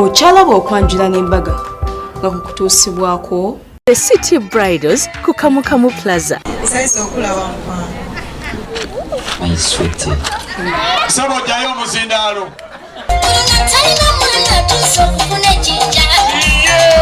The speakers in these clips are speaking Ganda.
okyalaba okwanjula n'embaga nga kukutuusibwako the city bridals ku kamukamu plaza sebo jayo omuzindaalo Yeah.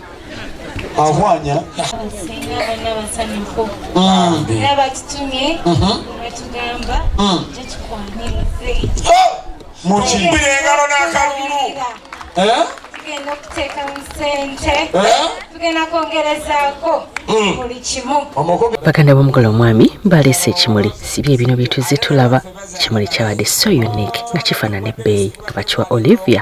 ahwanya mukimbira engalo n'akalulu tugenda okuteekamu sente tugenda kwongerezaako hmm. buli kimu baganda b'omukola omwami baleese ekimuli sibye bino bye tuzze tulaba ekimuli kyabadde so unique nga kifaanana ebbeeyi nga bakiwa olivia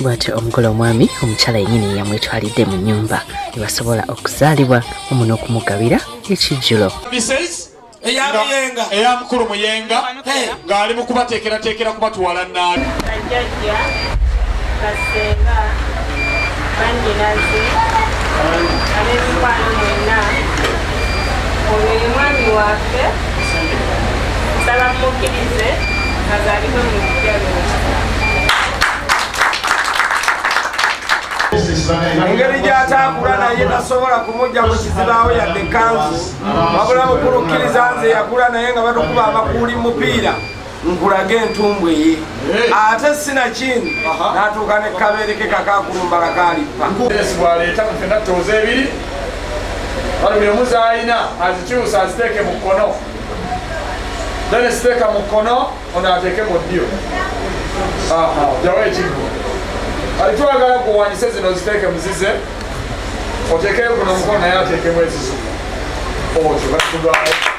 bwatyo omugole omwami omukyala yenyini yamwetwalidde mu nyumba ebasobola okuzaalibwa omu n'okumugabira ekijjulo eya mukulu muyenga ng'ali mu kubateekerateekera kubatwala naabi bajjajja basenga banyinazi ab'emikwano mwenna ono ye mwami waffe nsaba mumukkirize azaalibwe mu lujja lwokisa engeri gy'ataakula naye tasobola kumugya mu kizibaawo yadde kanzu wabula mukulu kkiriza nze yakula naye nga batukuba amakuuli mupiira nkulage entumbwe ye ate sinakini natuuka ne kabeereke kakakulumba kakalippa bwaleeta mufena tooza ebiri balumi omuzaalina azikyusa aziteeke mu kkono then siteeka mu kkono Ono ateeke mu ddyo. Aha, jawo ekiggo. Kati twagala kuwanyise zino ziteeke muzize. Oteekeyo kuno omukono naye ateekemu ezizo. Otyo batugwawo.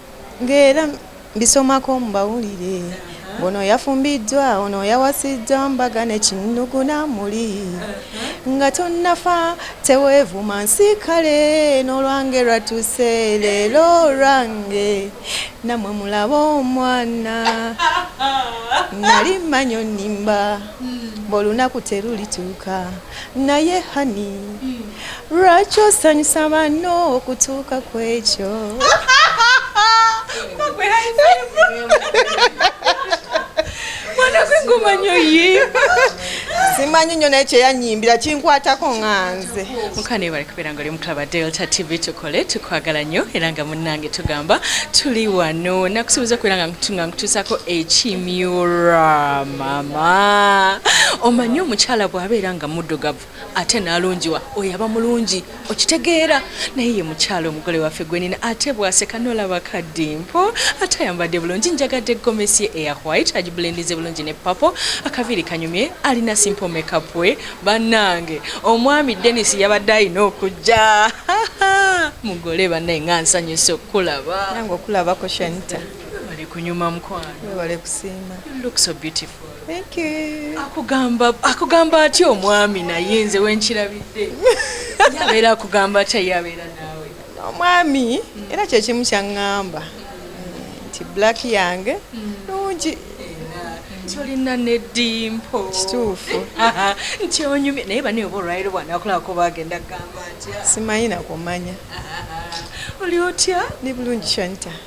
Ng'era mbisomako mu mawulire ng'ono yafumbiddwa, ono yawasiddwa mbaga ne kinnugu n'amuli. Nga tonnafa teweevuma nsi kale n'olwange lwatuuse leero olwange nammwe mulabe omwana nali mmanyi onnimba ng'olunaku terulituuka naye honey. lwaki osanyusa banno okutuuka ku ekyo simanyi nyo naye kyeyanyimbira kinkwatako nganze mukanebale kubeera nga oli omutulaba delta tv tukole tukwagala nnyo era nga munnange tugamba tuli wano nakusuubiza okubeera nga nga nkutuusako ekimyura mama omanyi omukyala bw'abeera nga muddugavu ate nalungiwa oyo aba mulungi okitegeera naye ye mukyalo omugole waffe gwenina ate bwaseka nolaba kaddimpo ate ayambadde bulungi njagadde gomesi ye eya white agibulendize bulungi ne papo akaviiri kanyumye alina simple makeup we bannange omwami denis yabadde alina okujja mugole bannaye nga nsanyusa okukulaba nange okulabako shanita webale kunyuma mukwano webale kusiima you look so beautiful Thank you. Akugamba akugamba atya omwami naye nze wenkirabidde. Yabeera akugamba atya yabeera naawe. Omwami era kye kimu kyangamba nti black yange nungi tolina nedimpo kituufu nti onyumye naye bane oba olwaliro bwanakulako bagenda kugamba atya simanyi nakumanya oli otya ni bulungi shanita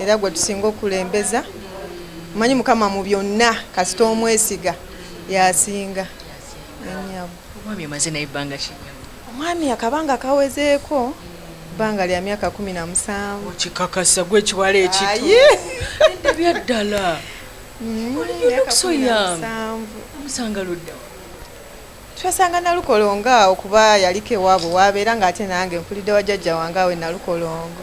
era gwe tusinga okulembeza manyi mukama mu byonna kasita omwesiga yasinga omwami akabanga kawezeeko bbanga lya myaka kumi na musanvu kikakasa gwe ekiwala ekitbyaddala mm, omusanga ludda twasanga nalukolongo awo kuba yaliko ewaabwe waabeera nga ate nange nkulidde wa jajja wange awe nalukolongo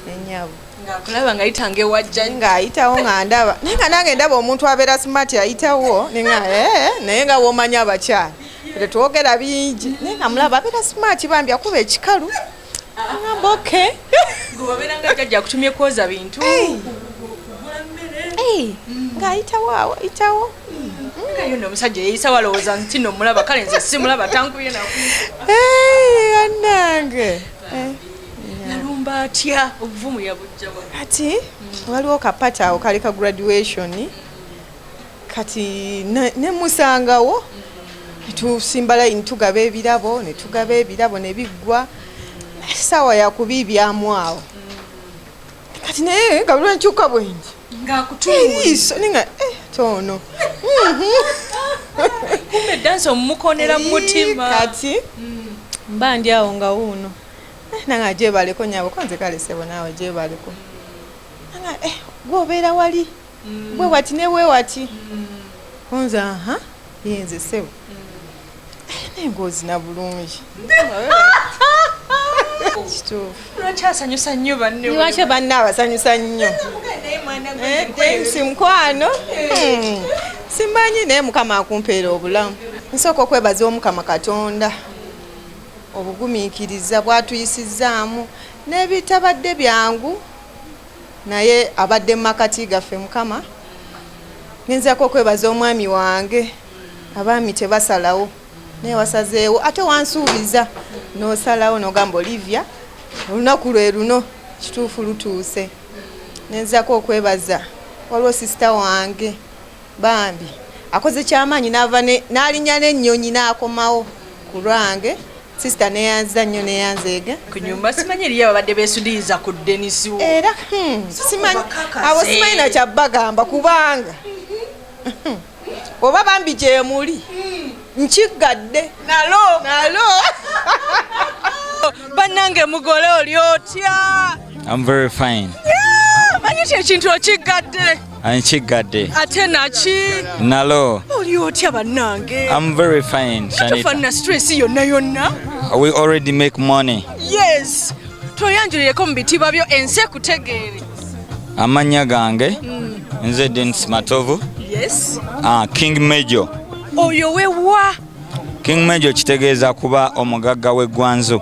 nenyabo ngakulaba ngayitanga ewajja ngaayitawo nga ndaba naye nga nange ndaba omuntu abeera smart ayitawo nga eh, naye nga womanya abakyala tetwogera bingi naye nga mulaba abeera smart bambi akuba ekikalu agamba ah, okay gwewabeera nga jajja akutumye kwoza bintu kugula mmere mm. ng'ayitawo awo ayitawo nayo no omusajja yeyisa walowooza nti no mulaba kale nze simulaba tankubye naku anange yalumba eh. atya obuvumu yabujjawa ati waliwo kapata awo kali ka graduation kati nemusangawo tusimba layini tugaba ebirabo netugaba ebirabo nebiggwa saawa yakubiibyamu awo kati naye nga lwenkyuka bwengi eriiso ninga eh, toono kumbe dansi omumukonera mumutima kati mm. mba ndi awo nga wuuno eh, nanga gyebaleko nyabo konze kalesebo naawe gyebaleko nanga eh, gwobeera wali mm. bwe wati ne bwe wati mm. onze aha yenze sebo mm. eh, naye ngaozina bulungi lwakyasanyusa nnyo bannewakyo banna abasanyusa nnyo eh, eh, mukwano hmm. simanyi naye mukama akumpeera obulamu nsooka okwebaza omukama katonda obugumiikiriza bwatuyisizzaamu n'ebitabadde byangu naye abadde mu makati gaffe mukama ngenzako okwebaza omwami wange abaami tebasalawo naye wasazeewo ate wansuubiza nosalawo nogamba olivia olunaku lwe luno kituufu lutuuse nenzako okwebaza waliwo sisita wange bambi akoze kyamaanyi nava n'alinya n'ennyonyi n'akomawo ku lwange Sister neyanza nnyo neyanzeega ku nyumba simanyi eriyo ababadde besudiyiza ku denisiwo era hmm, simanyi abo simanyi nakya bagamba kubanga hmm, oba bambi gyemuli nkiggadde nalo nalo bannange mugole oli otya manyi kyekintu okiggadde Nkiggadde. Ate naki? Nalo. Oli otya bannange? I'm very fine, Shanita. Tufanna stress yonna yonna. We already make money. Yes. Tweyanjulireko mu bitiibwa byo ensi ekutegeere. Amannya gange hmm. nze Denis Matovu. Yes. Ah, King Major. Oyo we wa? King Major kitegeeza kuba omugagga w'eggwanzu.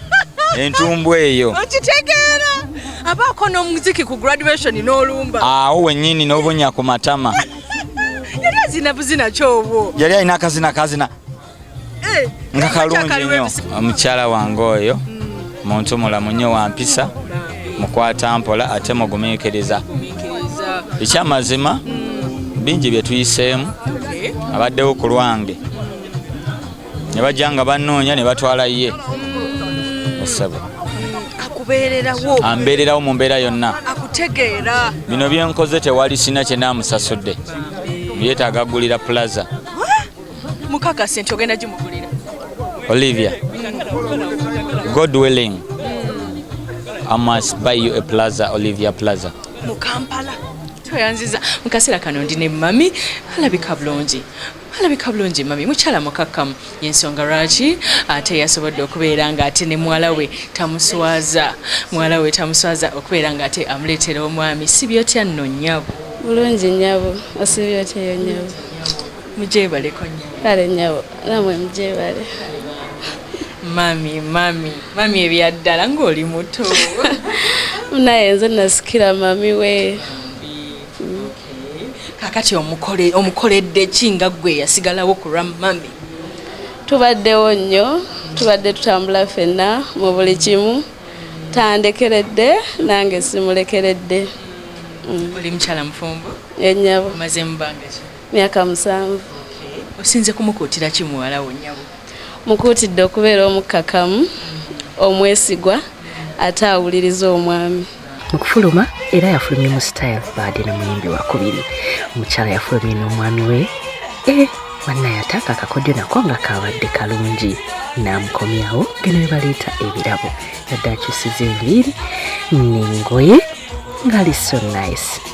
entumbu eyo okitegeera abaako n'omuziki ku graduation n'olumba awo wennyini n'obunya ku matama yali azina buzina kyobwo yali alina akazina kazina eh, nga kalungi nnyo omukyala wange oyo hmm. muntu mulamu nnyo wampisa mukwata mpola ate mugumiikiriza ekyamazima hmm. bingi bye tuyiseemu abaddewo ku lwange ne bajja nga bannoonya ne batwala ye essabo akubeererawo ambeererawo mu mbeera yonna akutegeera bino bye nkoze tewali sina kye naamusasudde yeetaaga agulira plaza mukakase nti ogenda gimugulira olivia god willing i must buy you a plaza olivia plaza mu kampala tweyanziza mu kaseera kano ndi ne mami alabika bulungi alabika bulungi mami mukyala mukakkamu yensonga lwaki ate yasobodde okubeera nga ate ne muwala we tamuswaza muwala we tamuswaza okubeera nga ate amuleetera omwami sibyotya nno nyabo bulungi nyabo osibyotya eyo nyabo mujebaleko nyabo kale nyabo namwe mujebale mami mami mami ebyaddala ng'oli muto naye nze nasikira mami we kakati omukoledde ki nga ggwe yasigalawo ku lwa mami tubaddewo nnyo tubadde tutambula fenna mu buli kimu tandekeredde nange simulekeredde mm. oli mukyala mufumbo enyabo eh, maze mubanga ki myaka musanvu osinze kumukuutira ki muwala wo nyabo mukuutidde okubeera omukkakamu mm. omwesigwa ate awuliriza omwami mu kufuluma era yafulumye mu style baade ne muyimbi wakubiri omukyala yafulumye n'omwami we e eh, wanna yataaka akakodyo nako nga kaabadde kalungi n'amukomyawo geno we baleeta ebirabo yadde akyusiza enviiri n'engoye ngaali so nice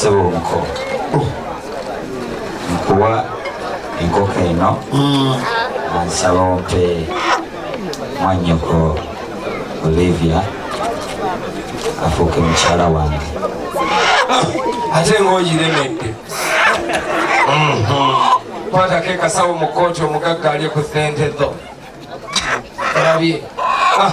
sebo omuko nkuwa enkoko eno ansaba ompe mwanyoko olivia afuuke mukyala wange ate ngaogiremedde mhm. kwatako ekasawo mu kooti omugagga ali ku sente zo olabye ah.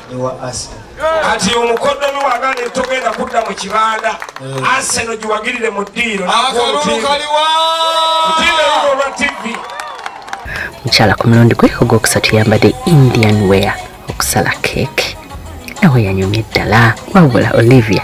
ewa Arsenal. Kati omukoddomi wagana togenda kudda mu kibanda eh. Arsenal giwagirire mu ddiiro olwa TV. Mukyala ku mulundi gwe ogwokusatu yambadde Indian wear okusala keeki nawe yanyumye ddala wabula Olivia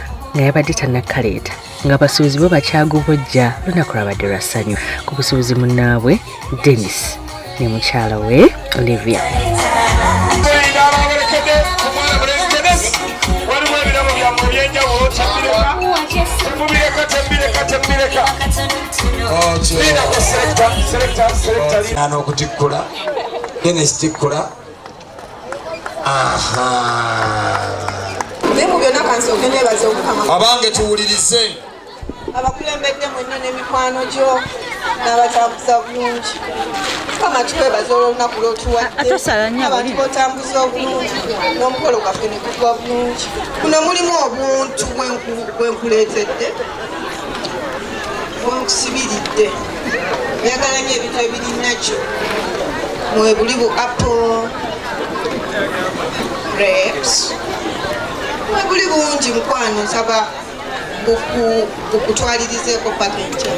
nga yabadde tannakaleeta nga basuubuzi bo bakyagubojja lunaku lwabadde lwa ssanyu ku busuubuzi munnaabwe denis ne mukyala we olivia n'okutikkula denis tikkula abange tuwulirize abakulembedde mwenna n'emikwano gyo n'abatambuza bulungi mukama tukwebaza olwolunaku lwotuwaddeabantu botambuza obulungi n'omukolo gwaffe negugwa bulungi kuno mulimu obuntu bwenkuleetedde wankusibiridde njagala nyo ebintu ebiri nakyo mwebuli bu apple grapes mwebuli bungi mukwano nsaba okutwalirizeeko paka enkya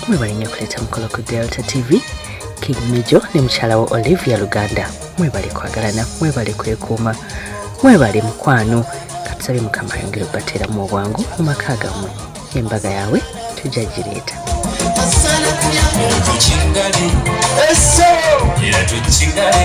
mwebale nyo okuleeta mukolo ku delta tv king mijo ne mukyala wa olivia luganda mwebale kwagalana mwebale kwekuuma mwebale mukwano katusabye mukama ayongere okubateeramu obwangu mu maka gammwe embaga yaabwe tujja gireeta era tukigale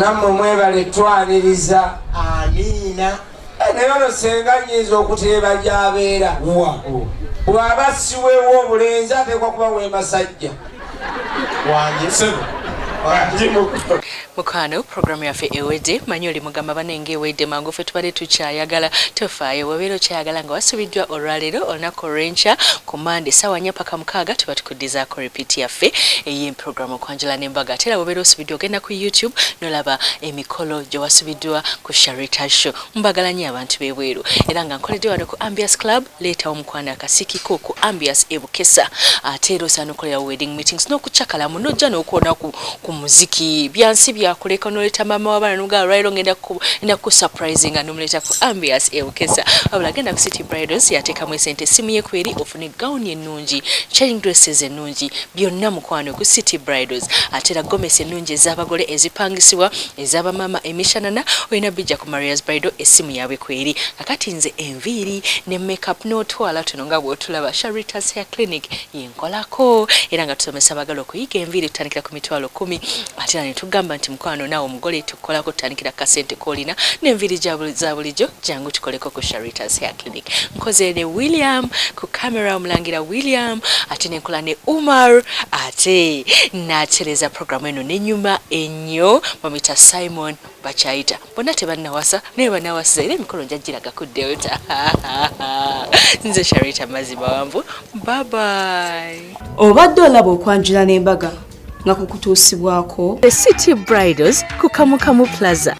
nammwe mwebale twaniriza amiina eh, naye ono senga nyinza okuteeba gyabeera bw'aba siweewo obulenzi ateekwa kuba wemasajja Mukwano program yaffe ewedde manyi oli mugamba banenge ewedde mangu fe tubadde tukyayagala tofaayo bwobeera okyayagala nga wasubiddwa olwaleero olunaku olwenkya ku mande sawa nya paka mukaaga tuba tukuddizaako repeat yaffe eye program okwanjula ne mbaga ate era bwobeera osubiddwa ogenda ku youtube nolaba emikolo gyewasubiddwa ku sharita show mbagala nyo abantu bebweru era nga nkoledde wano ku ambias club Leetawo mukwano akasiki ko ku Ambias e Bukesa ate era osaana okukolerawo wedding meetings n'okucakala mu n'ojja n'okuwona ku, ku muziki byansi byakuleka n'oleeta maama w'abaana n'omugala lwaliro ng'enda kukusupurizinga n'omuleeta ku Ambias e Bukesa wabula genda ku City Bridals yateekamu esente essimu ye kweri ofune gawuni ennungi chain dresses ennungi byonna mukwano ku City Bridals ate era gomesi ennungi ez'abagole ezipangisibwa ez'abamaama emishanana olina bijja ku Maria's Bridal essimu yaabwe kweri Kakati nze enviiri ne makeup n'otwala tuno nga bw'otulaba Sharita's Hair Clinic yenkolako era nga tusomesa abagala okuyiga enviiri tutandikira ku mitwalo kumi ate era ne tugamba nti mukwano naawe omugole tukukolako tutandikira kasente k'olina n'enviiri za bulijjo jangu tukoleko ku Sharita's Hair Clinic nkoze ne William ku kamera omulangira William ate ne nkola ne Umar ate natereza programu eno nenyuma ennyo mamita Simon bakyayita bonna tebannawasa naye banawasiza era emikolo nja giraga ku delta nze sharita mazzi mawanvu babai obadde olaba okwanjula n'embaga nga kukutuusibwako the city bridals ku kamukamu plaza